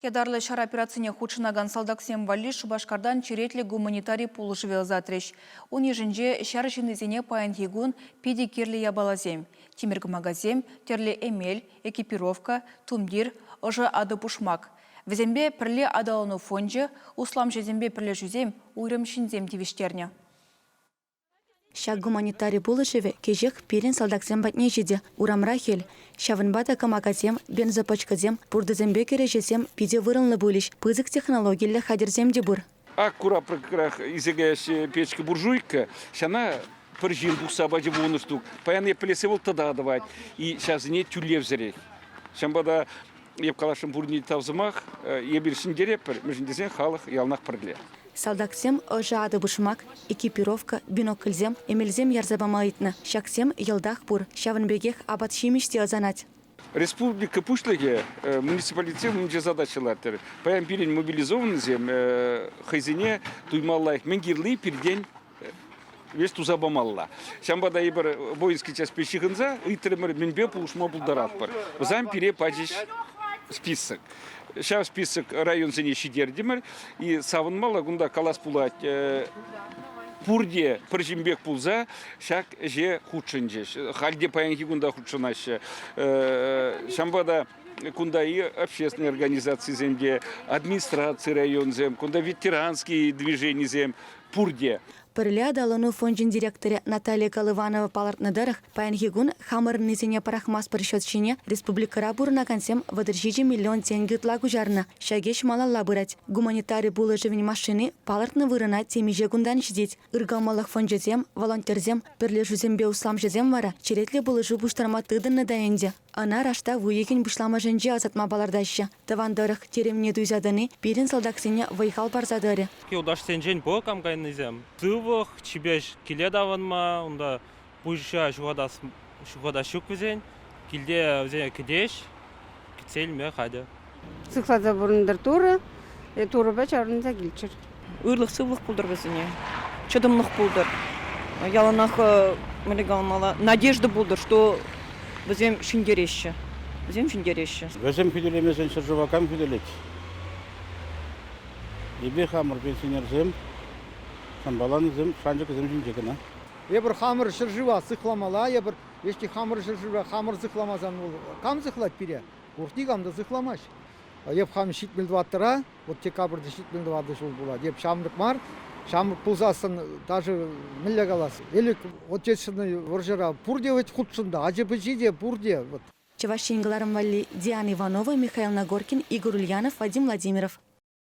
Ятарлӑ ҫар операцине хутшӑнакан салтаксем валли Шупашкартан черетлӗ гуманитари пулӑшӑвӗ ӑсатрӗҫ. Ун йышӗнче ҫар ҫыннисене паянхи кун питӗ кирлӗ япаласем: тимӗр кӑмакасем, тӗрлӗ эмел, экипировка, тумтир, ӑшӑ атӑ-пушмак. Вӗсемпе пӗрле аталану фончӗ, усламҫӑсемпе пӗрлешӳсем, уйрӑм ҫынсем тивӗҫтернӗ. Ҫак гуманитари пулӑшӑвӗ кӗҫех пирӗн салтаксем патне ҫитӗ. Урамра хӗл. Ҫавӑнпа та кӑмакасем, бензопӑчкӑсем, пуртӑсемпе кӗреҫесем питӗ вырӑнлӑ пулӗҫ. Пысӑк технологиллӗ хатӗрсем те пур. Ак курапрӑкрах исекеҫҫӗ печка-буржуйка. Ҫана пӗр ҫын пухса пачӗ вунӑ штук. Паян эплесе вӑл тӑта тӑвать. И ҫавсене тӳлевсӗрех. Ҫавӑнпа та Эп каласшӑн пурне те тав сӑмах. Эпир ҫӗнтеретпӗр, мӗншӗн тесен халӑх яланах пӗрле. Салтаксем ӑшӑ атӑ-пушмак, экипировка, бинокльсем, эмелсем ярса пама ыйтнӑ. Ҫаксем йӑлтах пур, ҫавӑн пекех апат-ҫимӗҫ те ӑсанать. Республика Пуҫлӑхӗ муниципалитетсем умӗнче задача лартрӗ. Паян пирӗн мобилизованнӑсем хӑйсене туйма лайӑх мӗн кирлли пиртен. вес туса памалла. Ҫавӑнпа та эпир воинский частьпе ҫыхӑнса ыйтрӑмӑр, мӗнпе пулӑшма пултаратпӑр. Вӗсем пире пачӗҫ список. Ҫав список районсене ҫитертӗмӗр и савӑнмалла кунта калас пулать пурте пӗр ҫынпек пулса ҫак ӗҫе хутшӑнчӗҫ. Халь те паянхи кун та хутшӑнаҫҫӗ. Ҫавӑнпа та кунта и общественные организацисем те, администраци районсем, кунта ветеранские движенисем пурте. Пӗрле аталану фончӗн директорӗ Наталья Колыванова палӑртнӑ тӑрӑх, паянхи кун хамӑрӑннисене пӑрахмастпӑр счет ҫине республикӑра пурӑнакансем вӑтӑр ҫичӗ миллион тенкӗ ытла куҫарнӑ. Ҫак ӗҫ малалла пырать. Гуманитари пулӑшӑвӗн машини палӑртнӑ вырӑна темиҫе кунтан ҫитет. Ыркӑмӑллӑх фончӗсем, волонтерсем, пӗрлешӳсемпе усламҫӑсем вара черетлӗ пулӑшу пуҫтарма тытӑннӑ та ӗнтӗ. Ӑна раштав уйӑхӗн пуҫламӑшӗнче ӑсатма палӑртаҫҫӗ. Тӑван тӑрӑх терӗмне туйса тӑни пирӗн салтаксене вӑй-хал парса тӑрӗ. Юлташсенчен пур кам кайнисем? Сывлӑх, чипер киле таврӑнма, унта пуҫа ҫухатас ҫук вӗсен, килте вӗсене кӗтеҫ, кӗтсе илме хатӗр. Сыхласа пурӑнтӑр Турӑ, Турӑпа чарӑнса килччӗр. Ырлӑх-сывлӑх пултӑр вӗсене, чӑтӑмлӑх пултӑр. Яланах мӗнле каламалла, надежда пултӑр, что вӗсем ҫӗнтереҫҫӗ. Вӗсем ҫӗнтереҫҫӗ. Вӗсем хӳтӗлемесен ҫӗршыва кам хӳтӗлет? Эпир хамӑр пенсионерсем, самбаланӑсем, шанчӑкӗсем ҫинче кӑна. Эпир хамӑр ҫӗршыва сыхламалла, эпир веҫти хамӑр ҫӗршыва хамӑр сыхламасан вӑл кам сыхлать пире? Пур никам та сыхламасть. Эп хам ҫитмӗл тӑваттӑра, вот декабрьте ҫитмӗл тӑватӑ ҫул пулать. Эп ҫамрӑк мар. Ҫамрӑк пулсассӑн даже мӗнле калас, Элӗк Отечественнӑй вӑрҫӑра пурте вӗт хутшӑннӑ, ачи-пӑчи те пурте. Вот. Чӑваш Ен кӑларӑм валли, Диана Иванова, Михаил Нагоркин, Игорь Ульянов, Вадим Владимиров.